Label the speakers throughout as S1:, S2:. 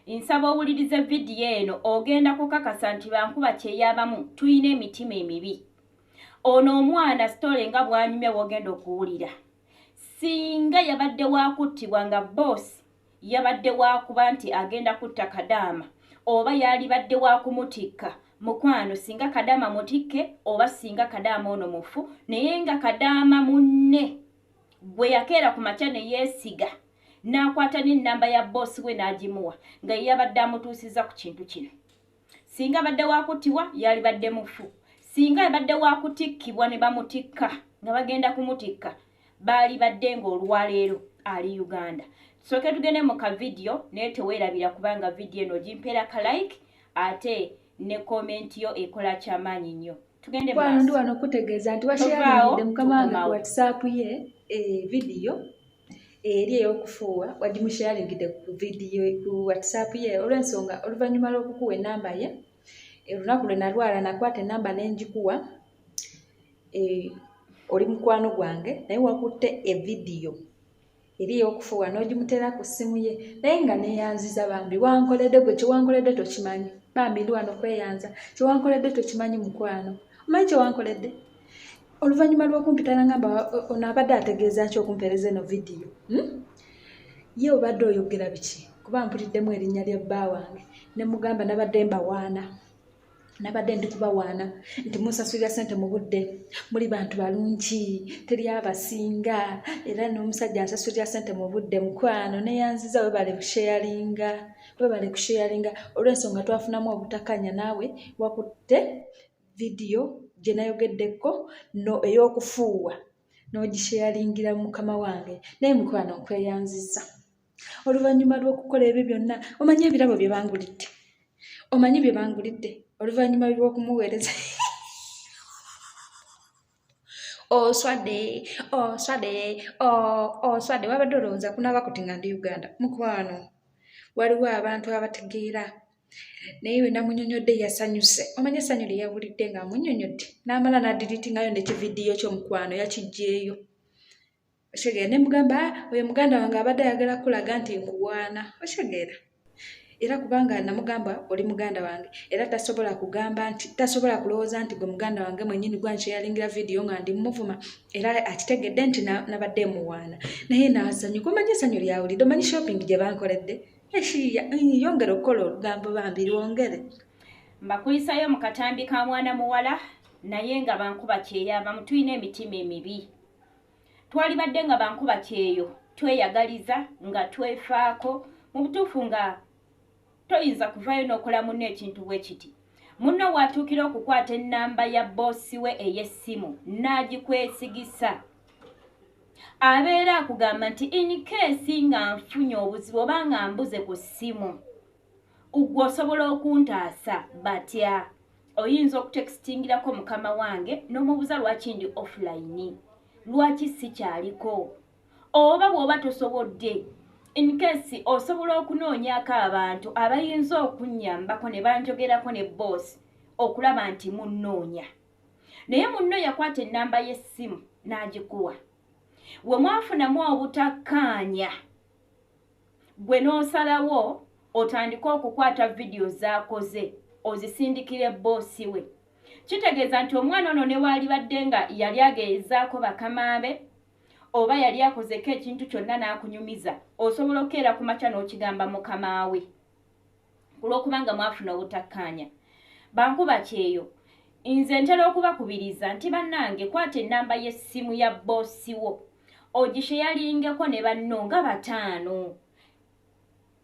S1: Nsaba owulirize vidiyo eno ogenda kukakasa nti bankuba kyeyabamu tulina emitima emibi. Ono omwana sitole nga bwanyumya wogenda okuwulira. Singa yabadde wakuttibwa nga boosi yabadde wakuba nti agenda kutta kadaama oba yalibadde wakumutikka mukwano singa kadaama mutikke oba singa kadaama ono mufu naye nga kadaama munne gwe yakeera ku makya neyesiga n'akwata n'ennamba ya bboosi we n'agimuwa nga ye yabadde amutuusizza ku kintu kino singa abadde waakuttibwa yalibadde mufu singa abadde waakutikkibwa ne bamutikka nga bagenda kumutikka baalibadde ng'olwaleero ali uganda tusooke tugende mu ka vidiyo naye teweerabira kubanga vidiyo eno ogimpera ka like ate ne komenti yo ekola kyamaanyi nnyo tugende ndi wano okutegeeza
S2: nti washeyaidde mukama wange ku whatsapp ye eh, vidiyo eri ey'okufuuwa wagimusharingidde ku vidiyo ku whatsapp ye olw'ensonga oluvannyuma lw'okukuwa enamba ye eh, olunaku lwe nalwala nakwata enamba n'engikuwa eh, oli mukwano gwange naye wakutte evidiyo eri ey'okufuuwa n'ogimuteera ku ssimu ye naye nga neeyanziza bambi wankoledde gwe kyewankoledde tokimanyi bambi ndi wano kweyanza kyewankoledde tokimanyi mukwano omanyi kyewankoledde oluvannyuma lw'okumpita nangamba ono abadde ategeeza ki okumpeereza eno vidiyo hmm? ye obadde oyogera biki kuba mpuliddemu erinnya lya bba wange ne mugamba nabadde mbawaana nabadde ndi kubawaana nti musasulira sente mu budde muli bantu balungi teri abasinga era n'omusajja asasulira sente mu budde mukwano neyanziza webale kusheyalinga webale kusheyalinga olw'ensonga twafunamu obutakanya naawe wakutte vidiyo gye nayogeddeko no ey'okufuuwa n'ogisheyalingira mukama wange naye mukwano nkweyanziza oluvannyuma lw'okukola ebyo byonna omanyi ebirabo bye bangulidde omanyi bye bangulidde oluvannyuma lw'okumuweereza oswadde oswadde oswadde wabadde olowooza kunaaba kuti nga ndi uganda mukwano waliwo abantu abategeera naye we namunyonyodde yasanyuse omanye essanyu lye yawulidde ng'amunyonyodde n'amala n'adiritingayo nekividiyo kyomukwano yakijjeeyo okitegera ne mugamba ah, oyo muganda wange abadde ayagala kukulaga nti nkuwaana okitegera era kubanga namugamba oli muganda wange era tasobola kugamba nti tasobola kulowooza nti gwe muganda wange mwenyini gwa nkyeyalingira vidiyo nga ndi muvuma era akitegedde nti nabadde emuwaana naye nasanyuka omanyi esanyu lyawulidde omanyi shopping gye bankoledde eshiya yongere okukola olugambo bambi lwongere mbakuyisayo
S1: mu katambi ka mwana muwala naye nga bankuba kyeya bamutulina emitima emibi twalibadde nga bankuba kyeyo tweyagaliza nga twefaako mu butuufu nga toyinza kuvaayo n'okola munno ekintu bwe kiti munno waatuukira okukwata ennamba ya bboosi we ey'essimu n'agikwesigisa abeera akugamba nti inikeesi nga nfunye obuzibu oba nga mbuze ku ssimu ugwe osobola okuntaasa batya oyinza okutekitingirako mukama wange nomubuza lwaki ndi offline lwaki sikyaliko oba bwoba tosobodde inkesi osobola okunoonyako abantu abayinza okunyambako ne banjogerako ne boosi okulaba nti munnoonya naye munno yakwata ennamba y'essimu n'agikuwa we mwafunamu obutakkaanya Gwe n'osalawo otandike okukwata vidiyo z'akoze ozisindikire bboosi we. Kitegeeza nti omwana ono newaalibadde nga yali ageezaako bakama be oba yali akozeko ekintu kyonna n'akunyumiza, osobola okukeera ku makya n'okigamba mukama we. ku lw'okuba nga mwafuna obutakkaanya bankuba kyeyo nze ntera okubakubiriza nti bannange kwata ennamba y'essimu ya bboosi wo ogisheyaringeko ne banno nga bataano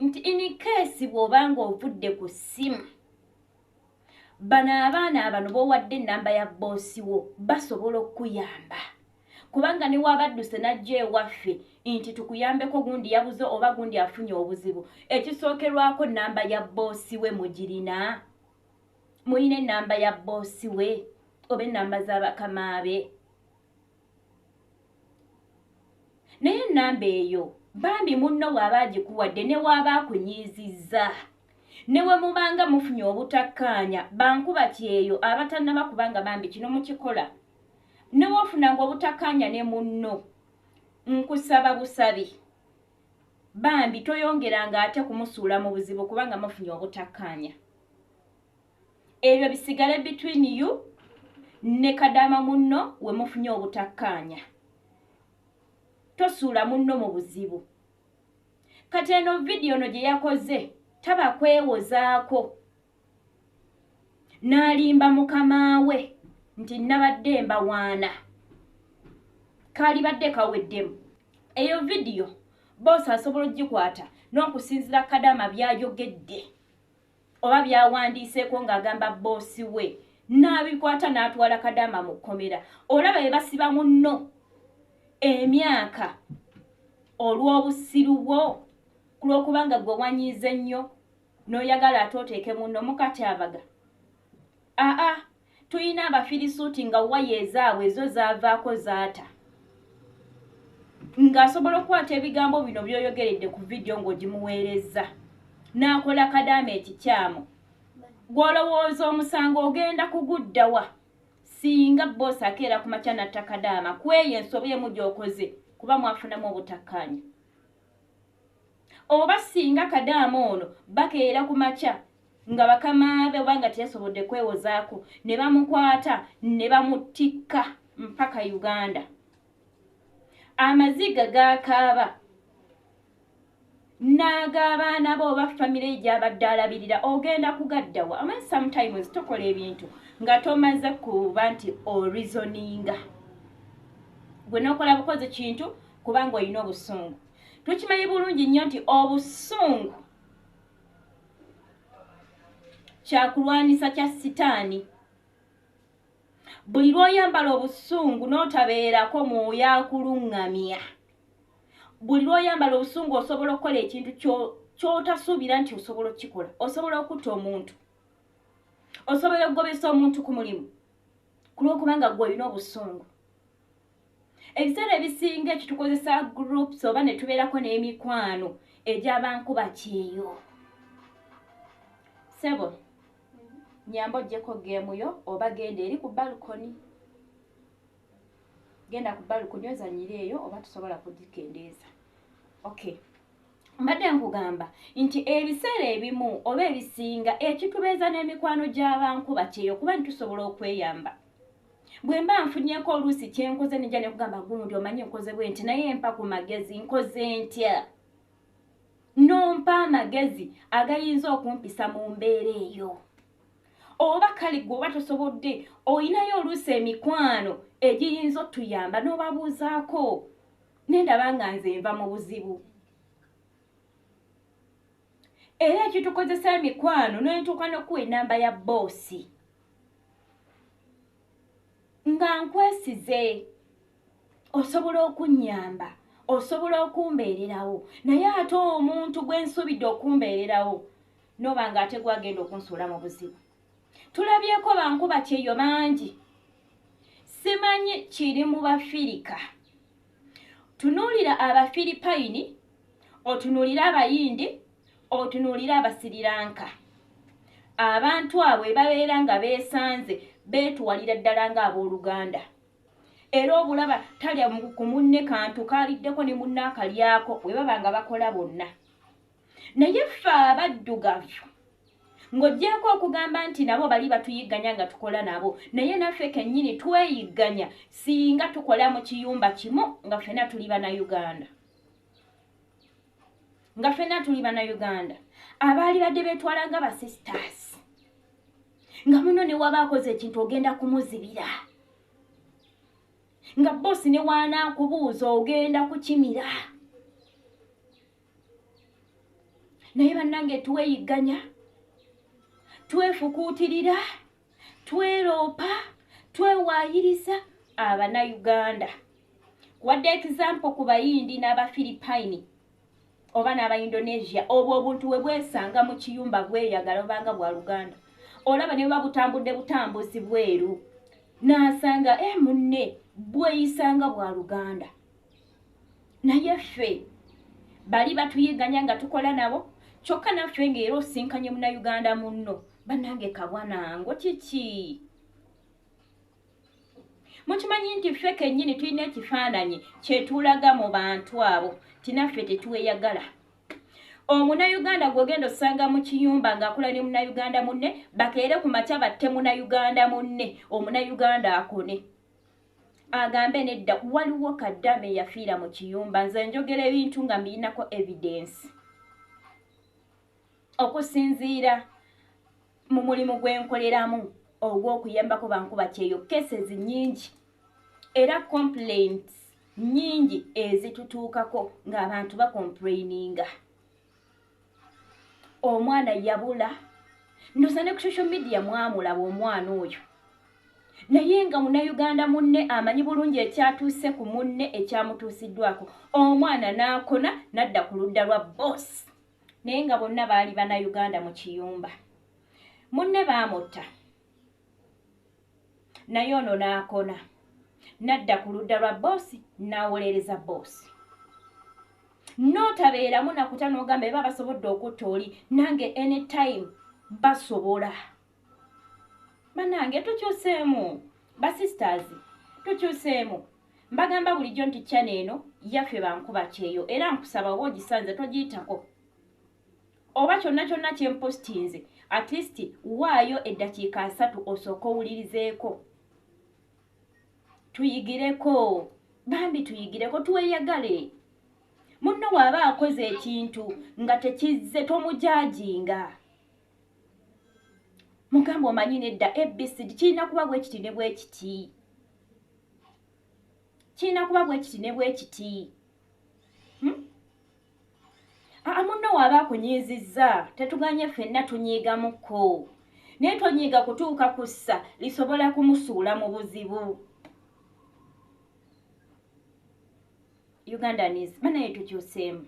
S1: nti inikeesi bw'oba ng'ovudde ku ssimu bano abaana abano bowadde enamba ya boosi wo basobola okukuyamba kubanga newabadduse najja ewaffe nti tukuyambeko gundi yabuze oba gundi afunye obuzibu ekisookerwako namba ya boosi we mugirina mulina enamba ya boosi we oba enamba z'abakamaabe naye enamba eyo bambi munno bw'aba agikuwadde ne waaba akunyiizizza ne we mubanga mufunye obutakkaanya bankuba kyeyo abatannaba kubanga bambi kino mukikola ne wofunanga obutakkaanya ne munno nkusaba busabi bambi toyongeranga ate kumusuula mu buzibu kubanga mufunye obutakkaanya ebyo bisigale between you ne kadaama munno we mufunye obutakkaanya tosuula munno mu buzibu kati eno vidiyo no gye yakoze taba kwewozaako n'alimba mukama we nti nabadde mbawaana kaalibadde kaweddemu eyo vidiyo boosi asobola okugikwata n'okusinzira kadaama byayogedde oba byawandiiseeko ng'agamba bboosi we n'abikwata n'atwala kadaama mu kkomera olaba be basiba munno emyaka olw'obusiru bwo ku lw'okubanga gwe wanyiize nnyo n'oyagala ate oteeke munno mukatyabaga aa Tuyina abafirisuuti nga waya ezaabwe ezo zaavaako zaata. Ng'asobola okukwata ebigambo bino by'oyogeredde ku vidiyo ng'ogimuweerezza. N'akola kadaama ekikyamu. Gw'olowooza omusango ogenda kuguddawa? Singa bboosi akeera ku makya n'atta kadaama ku eyo ensobi emu gy'okoze kuba mwafunamu obutakkaanya. Oba singa kadaama ono bakeera ku makya nga bakamaabe oba nga teyasobodde kwewozaako ne bamukwata ne bamuttikka mpaka Uganda. Amaziga gaakaaba n'ag'abaana be oba famire ye gy'abadde alabirira ogenda kugaddawa ama sometimes tokola ebintu nga tomaze kuba nti orizoninga gwe nokola bukozi kintu kubanga olina obusungu tukimanyi bulungi nnyo nti obusungu kyakulwanyisa kya sitaani buli lw'oyambala obusungu n'otabeerako mwoyo akuluŋŋamya buli lw'oyambala obusungu osobola okukola ekintu ky'otasuubira nti osobola okukikola osobola okutta omuntu osobola okugobesa omuntu ku mulimu ku lw'okubanga gwe olina obusungu ebiseera ebisinga ekitukozesa groups oba ne tubeerako n'emikwano egyabankuba kyeyo sebo nyamba ojjeko geemu yo oba genda eri ku balkoni genda ku balkoni ozanyira eyo oba tusobola kugikendeeza okay mbadde nkugamba nti ebiseera ebimu oba ebisinga ekitubeeza n'emikwano gy'abankuba kyeyo kuba nitusobola okweyamba bwe mba nfunyeko oluusi kye nkoze nija ne kugamba gundi omanyi nkoze bwe nti naye mpa ku magezi nkoze ntya nompa amagezi agayinza okumpisa mu mbeera eyo oba kale gwe oba tosobodde olinayo oluusi emikwano egiyinza otuyamba n'obabuuzaako nendaba nga nze nva mu buzibu era ekitukozesa emikwano nentuuka nokuwa enamba ya boosi nga nkwesize osobola okunnyamba osobola okumbeererawo naye ate omuntu gwe nsuubidde okumbeererawo noba nga ate gwagenda okunsuula mu buzibu tulabyeko bankuba kyeyo bangi simanyi kiri mu bafirika tunuulira abafiripayini otunuulire abayindi otunuulire abasiriranka abantu abo ebabeera nga beesanze beetuwalira ddala ng'abooluganda era obulaba talya ku munne kantu kaaliddeko ne munne akalyako bwe baba nga bakola bonna naye ffe abaddugavu ng'ogyeko okugamba nti nabo bali batuyigganya nga tukola nabo naye naffe kennyini tweyigganya singa tukola mu kiyumba kimu nga ffena tuli bana uganda nga fena tuli bana uganda abaali badde betwala nga ba sisters nga muno newaba akoze ekintu ogenda kumuzibira nga bosi newaana kubuuza ogenda kukimira naye bannange tuweyigganya twefukuutirira Tweloopa, twewaayiriza Abanayuganda. Wadde ekizampo ku Bayindi n'Abafiripayini oba n'Abaindonesia, obwo obuntu we bwesanga mu kiyumba bweyagala obanga bwa Luganda. Olaba ne buba butambudde butambuzi bweru, n'asanga e eh, munne bweyisanga bwa Luganda. naye ffe bali batuyiganya nga tukola nabo kyokka naffe ngaera osinkanye munauganda munno banange kabwanango kiki mukimanyi nti ffe kennyini tulina ekifaananyi kyetulaga mu bantu abo tinaffe tetweyagala omunauganda gwogenda osanga mu kiyumba ng'akola ne munauganda munne bakeere ku makya batte munauganda munne omunauganda akone agambe nedda waliwo kadama eyafiira mu kiyumba nze njogera ebintu nga mbiyinako evidensi okusinziira mu mulimu gwenkoleramu ogw'okuyambako bankuba kyeyo cases nyingi era complaints nyingi ezitutuukako ng'abantu bakomplaininga omwana yabula ndoza ne ku social media mwamulaba omwana oyo naye nga munauganda munne amanyi bulungi ekyatuuse ku munne ekyamutuusiddwako omwana n'akona nadda ku ludda lwa bos naye nga bonna baali banauganda mu kiyumba munne baamutta naye ono n'akona n'adda ku ludda lwa boosi n'awolereza boosi n'otabeeramu nakuta n'ogamba eba basobodde okutta oli nange anytime basobola banange tukyuseemu basisters tukyuseemu mbagamba bulijjo nti kyana eno yaffe bankuba kyeyo era nkusaba oba ogisanze togiyitako oba kyonna kyonna kye mpostinze at least waayo eddakiika asatu osooka owulirizeeko tuyigireko bambi tuyigireko tweyagale munno waaba akoze ekintu nga tekizze tomujaajinga mugamba omanyi nedda abc kirina kuba bwekiti ne bwekiti kirina kuba bwekiti ne bwekiti hmm? aa munno waaba akunyiizizza tetuganye ffenna tunyiigamukko naye tonyiiga kutuuka ku ssa lisobola kumusuula mu buzibu ugandanis banaye tukyuseemu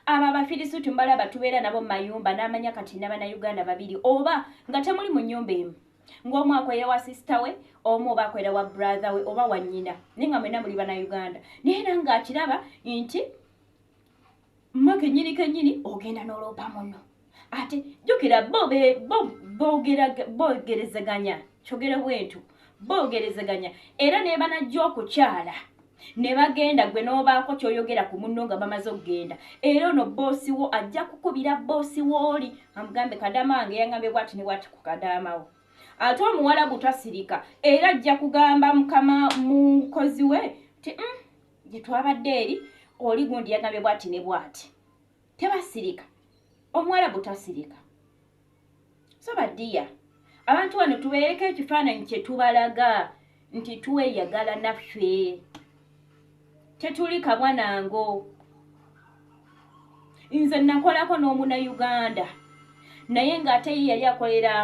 S1: abo abafirisuuti mbalaba tubeera nabo mu mayumba n'amanya kati nabana uganda babiri oba nga temuli mu nyumba emu ng'omu akwera wa sisita we omu oba akwera wa brother we oba wannyina naye nga mwena muli bana uganda naye era ng'akiraba nti mwe kenyini kenyini ogenda n'oloopa muno ate jjukira bo bogerezeganya kyogere bwentu bogerezeganya era nebanajja okukyala ne bagenda gwe n'obaako ky'oyogera ku munno nga bamaze okugenda era ono bboosi wo ajja kukubira bboosi wooli amugambe kadaama wange yangambye bwati ne bwati ku kadaama wo ate omuwala gutasirika era ajja kugamba mukama mukozi we ti mm, gye twabadde eri oli gundi yagambye bwati ne bwati tebasirika omuwarabu tasirika so badiya abantu wano tubeereko ekifaananyi kyetubalaga nti tweyagala naffe tetuli kabwa nango nze nakolako n'omuna uganda naye ng'ate ye yali akolera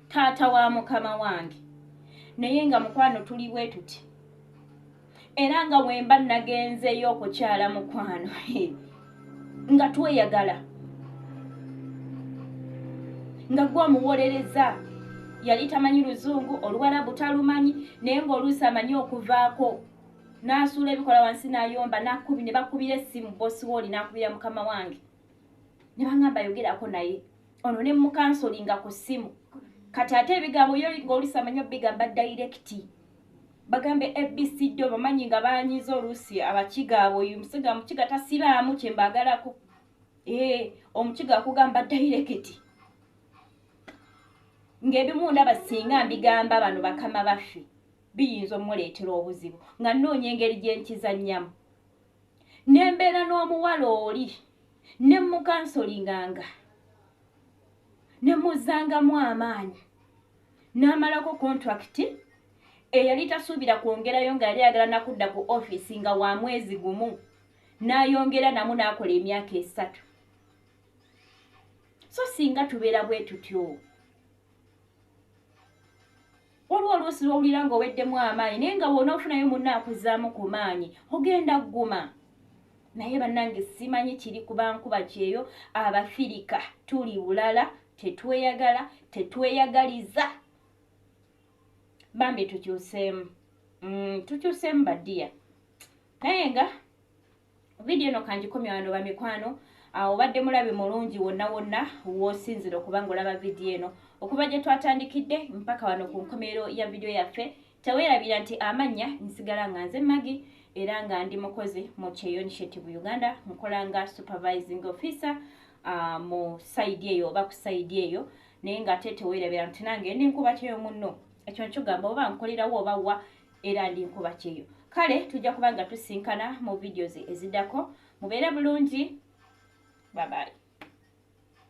S1: taata wa mukama wange naye nga mukwano tuli bwetuti era nga wemba nagenzeyo okukyala mukwano nga tweyagala nga gwe omuwolereza yali tamanyi luzungu oluwarabu talumanyi naye ngaoluusi amanyi okuvaako nasuula ebikola wansi nayomba nakubi ne bakubira essimu bosiwooli nakubira mukama wange ne bangamba yogerako naye ono ne mukansolinga ku ssimu kati ate ebigambo yo ngaolusi amanyi obigamba dayirekiti bagambe abc do bamanyi nga banyiza oluusi abakiga abo oyo musiga mukiga tasiraamu kyembagalako ee omukiga akugamba dairekiti ng'ebimu ndaba singa mbigamba bano bakama baffe biyinza omuleetera obuzibu nga nnoonya engeri gye nkizannyamu ne mbeera n'omuwala oli ne mukansolinganga ne muzzangamu amaanyi n'amalako kontulakiti eyali tasuubira kwongerayo nga yali ayagala nakudda ku ofiisi nga wa mwezi gumu n'ayongera namu n'akola emyaka esatu so singa tubeera bwe tutyo waliwo oluusi lwowulira nga oweddemu amaanyi naye nga woona ofunayo munna akuzaamu ku maanyi ogenda kuguma naye bannange simanyi kiri kubankuba kyeyo abafirika tuli bulala tetweyagala tetweyagaliza bambi tukyuseemu mm, tukyuseemu badiya naye nga vidiyo eno kangikomya wano bamikwano ah, obadde mulabi mulungi wonna wonna wosinzira okuba nga olaba vidiyo eno okuva gye twatandikidde mpaka wano ku nkomerero ya vidiyo yaffe Tewerabira nti amannya nsigala nga nze Maggie era nga ndi mukozi mu Kyeyo Initiative Uganda nkola nga supervising officer uh, mu sayidi eyo oba ku sayidi eyo naye nga ate tewerabira nti nange ndi nkuba kyeyo munno ekyo nkigamba oba nkolerawo oba wa era ndi nkuba kyeyo kale tujja kuba nga tusinkana mu videos eziddako mubeere bulungi babayi